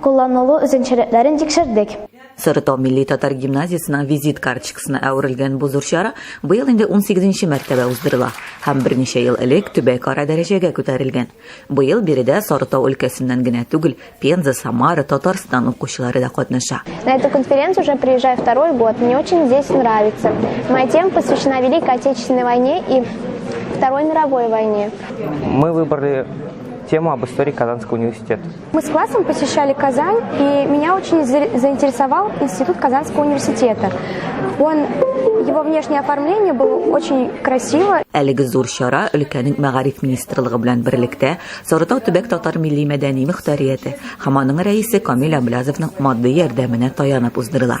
Кулланылу үзенчәлекләрен тикшердек. Сарытау милли-татар гимназиясенең визит карточкасына әверелгән бу зур чара быел инде унсигезенче мәртәбә уздырыла һәм берничә ел элек төбәкара дәрәҗәгә күтәрелгән. Быел биредә Сарытау өлкәсеннән генә түгел, Пенза, Самара, Татарстан укучылары да катнаша. На эту конференцию уже приезжаю второй год. Мне очень здесь нравится. Моя тема посвящена Великой Отечественной войне и Второй мировой войне. Мы выбрали тему об истории Казанского университета. Мы с классом посещали Казань, и меня очень заинтересовал Институт Казанского университета. Он, его внешнее оформление было очень красиво. Әлеге зур чара өлкәнең мәгариф министрлыгы белән берлектә Сарытау төбәк татар милли мәдәни мөхтәрияте һәм аның рәисе Камил Әблязовның матди ярдәменә таянып уздырыла.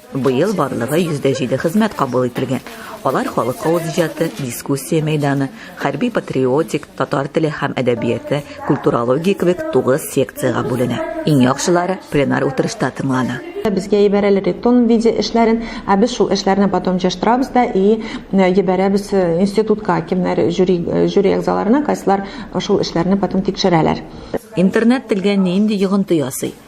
Быел барлыгы 107 хезмәт кабул ителгән. Алар халык авыз иҗаты, дискуссия мәйданы, хәрби-патриотик, татар теле һәм әдәбияты, культурология кебек тугыз секциягә бүленә. Иң яхшылары пленар утырышта тыңлана. Безгә ебәрәләр ритон виде эшләрен, ә без шул эшләрне потом җыштырабыз да и ебәрәбез институтка, кемнәр жюри жюри әгъзаларына, кайсылар шул эшләрне потом тикшерәләр. Интернет телгә нинди йогынты ясый?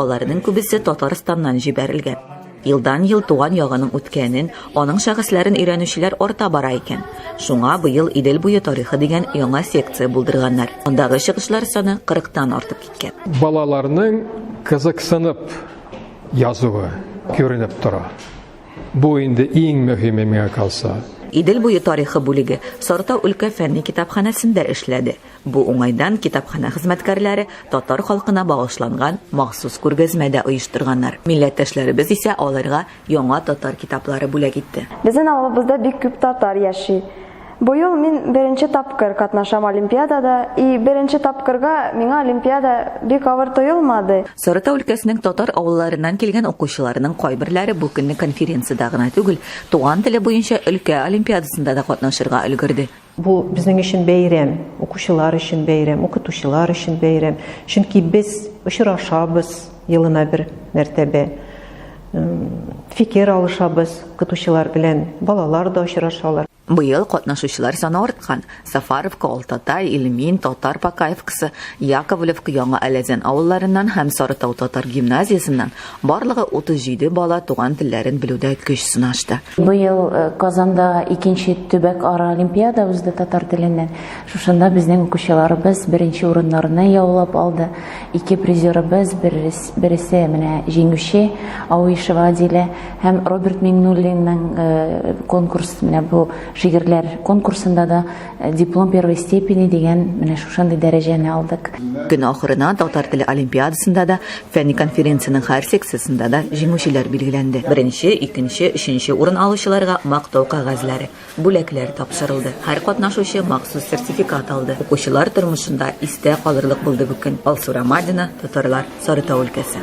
Аларның күбесе Татарстаннан җибәрелгән. Елдан-ел туган ягының үткәнен, аның шәхесләрен өйрәнүчеләр арта бара икән. Шуңа быел Идел буе тарихы дигән яңа секция булдырганнар. Андагы чыгышлар саны 40 тан артып киткән. Балаларның кызыксынып язуы күренеп тора. Бу инде иң мөһиме миңа калса. Идел буе тарихы бүлеге Сарытау өлкә фәнни китапханәсендә эшләде. Бу уңайдан китапханә хезмәткәрләре татар халкына багышланган махсус күргәзмә дә оештырганнар. Милләттәшләребез исә аларга яңа татар китаплары бүләк итте. Безнен авылыбызда бик күп татар яши. Быел мин беренче тапкыр катнашам олимпиадада и беренче тапкырга миңа олимпиада бик авыр тоелмады. Сарытау өлкәсенең татар авылларыннан килгән укучыларының кайберләре бу көнне конференциядә гына түгел, туган теле буенча өлкә олимпиадасында да катнашырга өлгерде. Бу безнең өчен бәйрәм, укучылар өчен бәйрәм, укытучылар өчен бәйрәм. Чөнки без очрашабыз елына бер мәртәбә. Фикер алышабыз укытучылар белән, балалар да очрашалар. Быел катнашучылар саны арткан. Сафаровка, Алтатай, Ильмин, Татар Покаевкасы, Яковлевка, Яңа Әләзән авылларыннан һәм Сарытау татар гимназиясеннән Барлыгы 37 бала туган телләрен белүдә көч сынашты. Быел Казанда икенче төбәкара олимпиада узды татар теленнән. Шушында безнең укучыларыбыз беренче урыннарны яулап алды. Ике призерыбыз, бересе менә җиңүче, Ауишева Адилә һәм Роберт Миңнуллинның конкурс, менә бу шигырьләр конкурсында да диплом первой степени дигән менә шушындый дәрәҗәне алдык. Көн ахырына татар теле олимпиадасында да Фәнни конференциянең һәр секциясендә дә җиңүчеләр билгеләнде. Беренче, икенче, өченче урын алучыларга мактау кәгазьләре, бүләкләр тапшырылды. Һәр катнашучы махсус сертификат алды. Укучылар тормышында истә калырлык булды бу көн. Алсу Рамадина, Татарлар, Сарытау өлкәсе.